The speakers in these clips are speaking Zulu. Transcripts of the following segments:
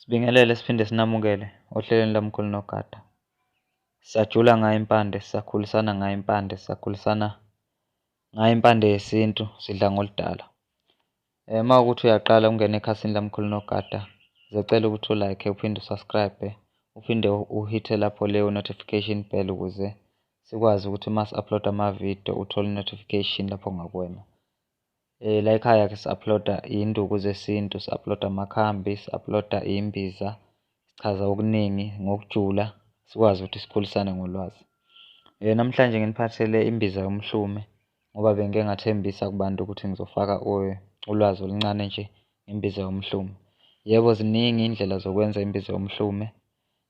Sibingelele siphinde sinamukele ohlelweni lomkhulu nogada. Sisajula ngayo impande, sisakhulisana ngayo impande, sisakhulisana ngayo impande yesintu, sidla ngoludala. Eh uma ukuthi uyaqala ukungena ekhasini lomkhulu nogada, zicela ukuthi ulike uphinde usubscribe, uphinde uhithe lapho leyo notification bell ukuze sikwazi ukuthi uma si-upload amavidiyo uthole notification lapho ngakuwena. Eh la ekhaya ke si-uploada induku zesintu, si-uploada amakhambi, si-uploada imbiza, sichaza okuningi ngokujula sikwazi ukuthi sikhulisane ngolwazi. Eh namhlanje nginiphathele imbiza yomhlume ngoba bengike ngathembisa kubantu ukuthi ngizofaka ulwazi oluncane nje ngembiza yomhlume. Yebo ziningi iy'ndlela zokwenza imbiza yomhlume.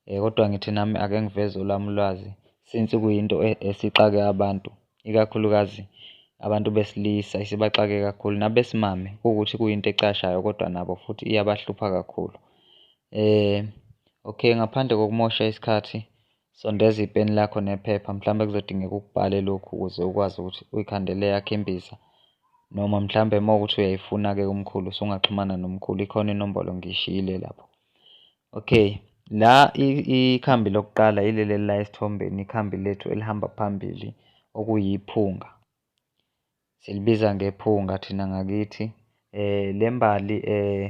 Eh, kodwa ngithi nami ake ngiveze olwami ulwazi since kuyinto e, esixake abantu ikakhulukazi abantu besilisa isibaxake kakhulu nabesimame kuwukuthi kuyinto ecashayo kodwa nabo futhi iyabahlupha kakhulu eh okay ngaphandle kokumosha isikhathi sondeza ipeni lakho nephepha mhlawumbe kuzodingeka ukubhale lokhu ukuze ukwazi ukuthi uyikhandele yakhe imbiza noma mhlawumbe uma ukuthi uyayifuna-ke kumkhulu usungaxhumana nomkhulu ikhona inombolo ngishiyile lapho Okay, la ikhambi lokuqala yileli la esithombeni, ikhambi lethu elihamba phambili okuyiphunga. Silibiza ngephunga thina ngakithi. Eh, le mbali eh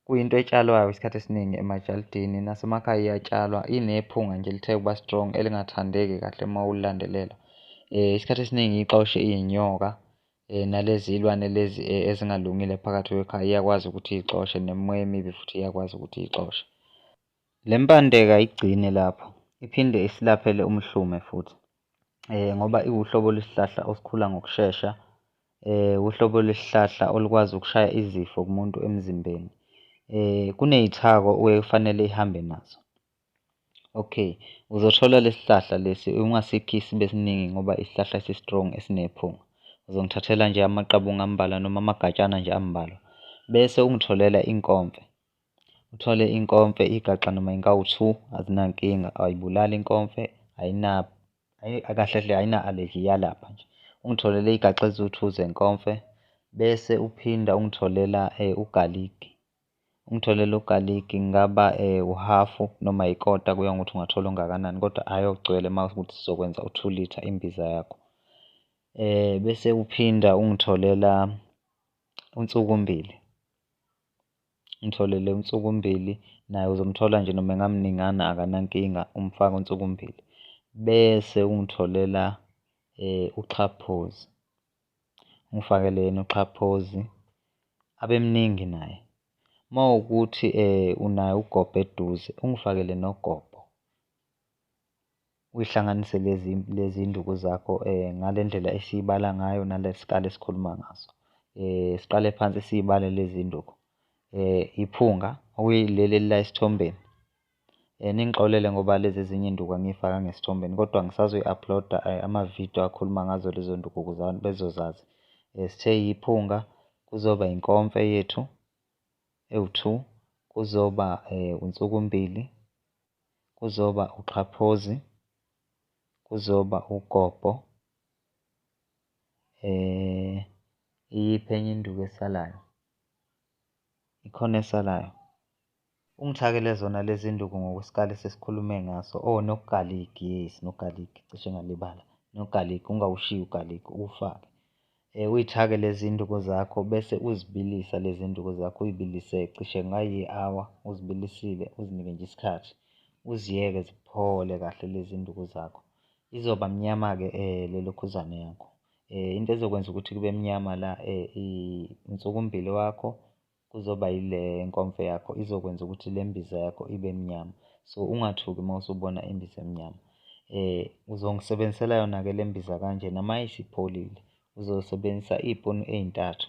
kuyinto etshalwayo isikhathi esiningi emajalidini nasemakhaya iyatshalwa, inephunga nje elithe ukuba strong elingathandeki kahle uma ulilandelela. Eh, isikhathi esiningi ixoshe iy'nyoka eh, nalezi ilwane lezi eh, ezingalungile phakathi kwekhaya iyakwazi ukuthi iyixoshe nemimoya emibi futhi iyakwazi ukuthi iyixoshe le mpandeka igcine lapho iphinde isilaphele umhlume futhi eh, ngoba iwuhlobo lwesihlahla osikhula ngokushesha eh, uhlobo lwesihlahla olukwazi ukushaya izifo kumuntu emzimbeni eh, kuneyithako okufanele ihambe nazo Okay, uzothola lesihlahla lesi ungasikhi sibe siningi ngoba isihlahla si strong esinephunga. Uzongithathela nje amaqabunga ambalwa noma amagatshana nje ambalwa. Bese ungitholela inkomfe. Uthole inkomfe igaxa noma inkawu 2 azinankinga ayibulali inkomfe ayina akahle hle ayina allergy yalapha nje. Ungitholele igaxa eziwu-2 zenkomfe bese uphinda ungitholela eh, ugaligi. Ungitholele ugaligi ngingaba uhafu noma ikota kuya ngokuthi ungathola ongakanani kodwa hhayi ogcwele uma ukuthi sizokwenza u-two litre imbiza yakho. Bese uphinda ungitholela unsukumbili, ungitholele unsukumbili naye uzomthola nje noma engamningana akanankinga umfake unsukumbili. Bese ungitholela uxhaphozi. Umfakele yena uXhaphozi abe mningi naye. Uma wukuthi unaye uGobho eduze, ungifakele noGobho. Uyihlanganise lezi iy'nduku zakho ngale ndlela esiyibala ngayo nale sikali esikhuluma ngaso. Siqale phansi siy'bale lezi iy'nduku. Iphunga okuyileli elila esithombeni. Eh, ningixolele ngoba lezi ezinye induku angiyifaka ngesithombeni kodwa ngisazoyi-uploada eh, amavidiyo akhuluma ngazo lezo nduku ukuze abantu bezozazi eh, sithe yiphunga kuzoba inkomfe yethu ewu-two kuzoba unsukumbili kuzoba uxhaphozi kuzoba ugobho eh iyiphi enye induku esalayo ikhona esalayo Ungithakele zona lezi nduku ngokwesikali sesikhulume ngaso. Oh no-garlic, yes no-garlic cishe ngalibala. No-garlic ungawushiyi u-garlic uwufake. Eh uyithake lezi nduku zakho bese uzibilisa lezi nduku zakho uyibilise cishe ngayi hour uzibilisile uzinike nje isikhathi. Uziyeke ziphole kahle lezi nduku zakho. Izoba mnyama ke eh lelokhuzane yakho. Eh into ezokwenza ukuthi kube mnyama la eh insukumbili wakho kuzoba yile nkomfo yakho izokwenza ukuthi le mbiza yakho ibe mnyama so ungathuki uma usubona imbiza emnyama eh uzongisebenzisela yona ke le mbiza kanje nama isipholile uzosebenzisa ipunu ezintathu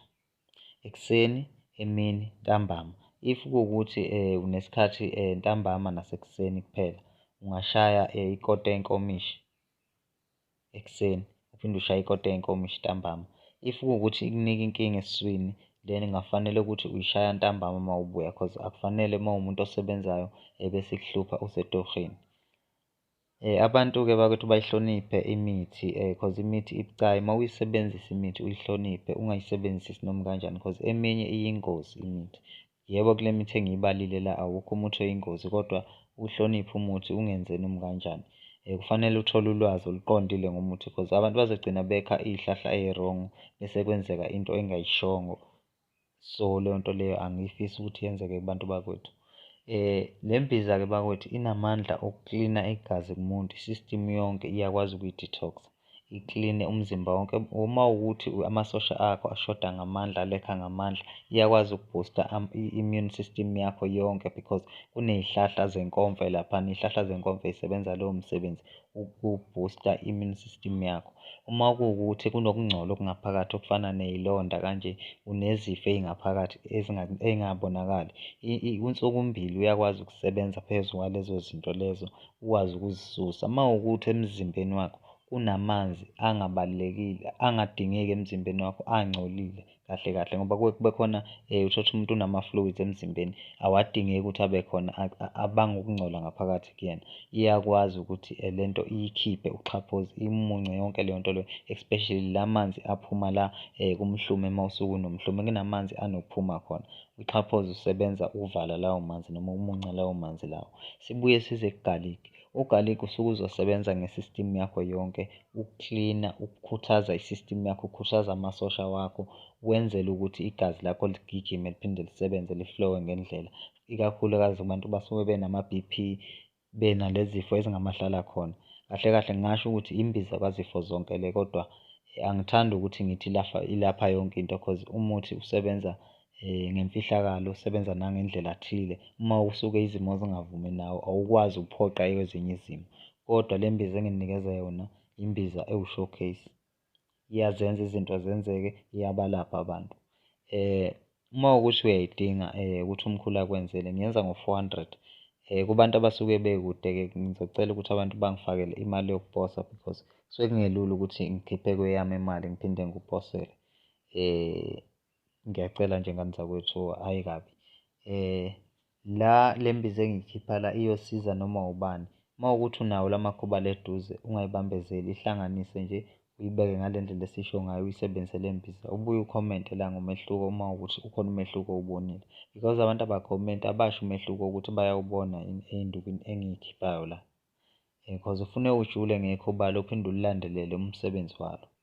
ekuseni emini ntambama if kuwukuthi eh unesikhathi eh, ntambama nasekuseni kuphela ungashaya eh, ikota enkomishi ekuseni uphinde ushaye ikota yenkomishi ntambama if kuwukuthi ikunika inkinga esiswini then kungafanele ukuthi uyishaya ntambama uma ubuya cause akufanele uma umuntu osebenzayo ebese kuhlupha usetohini Eh abantu-ke bakwethu bayihloniphe imithi eh cause imithi ibucayi uma uyisebenzisa imithi uyihloniphe ungayisebenzisi noma kanjani cause eminye iyingozi imithi. Yebo kule mithi engiyibalile la awukho umuthi oyingozi kodwa uhloniphe umuthi ungenzeni noma kanjani. Eh, kufanele uthole ulwazi oluqondile ngomuthi because abantu bazogcina bekha iy'hlahla eyi-wrong bese kwenzeka into engayishongo. So leyo nto leyo angiyifisi ukuthi yenzeke kubantu bakwethu. Eh, le mbiza-ke bakwethu inamandla okuklina igazi kumuntu, i-system yonke iyakwazi ukuyi-detox-a. ikline umzimba wonke uma ukuthi amasosha akho ashoda ngamandla alekha ngamandla iyakwazi ukuboosta i-immune system yakho yonke because kuney'hlahla zenkomfa laphana iy'hlahla zenkomfa zisebenza lowo msebenzi ukuboosta i-immune system yakho. Uma kuwukuthi kunokungcola okungaphakathi okufana ney'londa kanje unezifo ey'ngaphakathi ey'ngabonakali kunsuku mbili uyakwazi ukusebenza phezu kwalezo zinto lezo ukwazi ukuzisusa. Uma ukuthi emzimbeni wakho kunamanzi angabalulekile angadingeki emzimbeni wakho angcolile kahle kahle ngoba kuke kube khona um uthotha umuntu unama-fluids emzimbeni awadingeki ukuthi abe khona abanga ukungcola ngaphakathi kuyena iyakwazi ukuthi eh, le nto iyikhiphe uxhaphozi imunce yonke leyo nto leyo especially la manzi aphuma la um kumhlume uma usuke unomhlume kunamanzi anokuphuma khona Uxhaphozi usebenza ukuvala lawo manzi noma umunca lawo manzi lawo. Sibuye size ku-garlic. U-garlic usuke uzosebenza nge-system yakho yonke ukuklina, ukukhuthaza i-system yakho, ukukhuthaza amasosha wakho wenzele ukuthi igazi lakho ligijime liphinde lisebenze liflowe ngendlela, ikakhulukazi abantu basuke benama-B_P benalezifo ezingamahlala khona kahle kahle ngingasho ukuthi imbiza kwazifo zonke le kodwa eh, angithandi ukuthi ngithi lafa ilapha yonke into cause umuthi usebenza eh, ngemfihlakalo usebenza nangendlela thile uma usuke izimo zingavumi nawo awukwazi ukuphoqa ezinye izimo kodwa le mbiza enginikeza yona imbiza ewushowcase iyazenza izinto zenzeke, iyabalapha abantu. Uma ukuthi uyayidinga ukuthi umkhulu akwenzele ngiyenza ngo-four hundred. Kubantu abasuke bekude-ke ngizocela ukuthi abantu bangifakele imali yokuposa because kusuke kungelula ukuthi ngikhiphe kweyami imali ngiphinde ngikuphosele . Ngiyacela nje ngani zakwethu, hhayi kabi. La le mbiza engiyikhipha la iyosiza noma ubani. Uma kuwukuthi unawo la makhuba la eduze ungayibambezeli, ihlanganise nje uyibeke ngale ndlela esisho ngayo uyisebenzise le mbiza. Ubuye ukhomente la ngomehluko uma kuwukuthi ukhona umehluko owubonile because abantu abakhomenti abasho umehluko ukuthi bayawubona yini ey'ndukwini engiyikhiphayo la. Cause ufune ujule ngekhuba lo uphinde ulilandelele umsebenzi walo.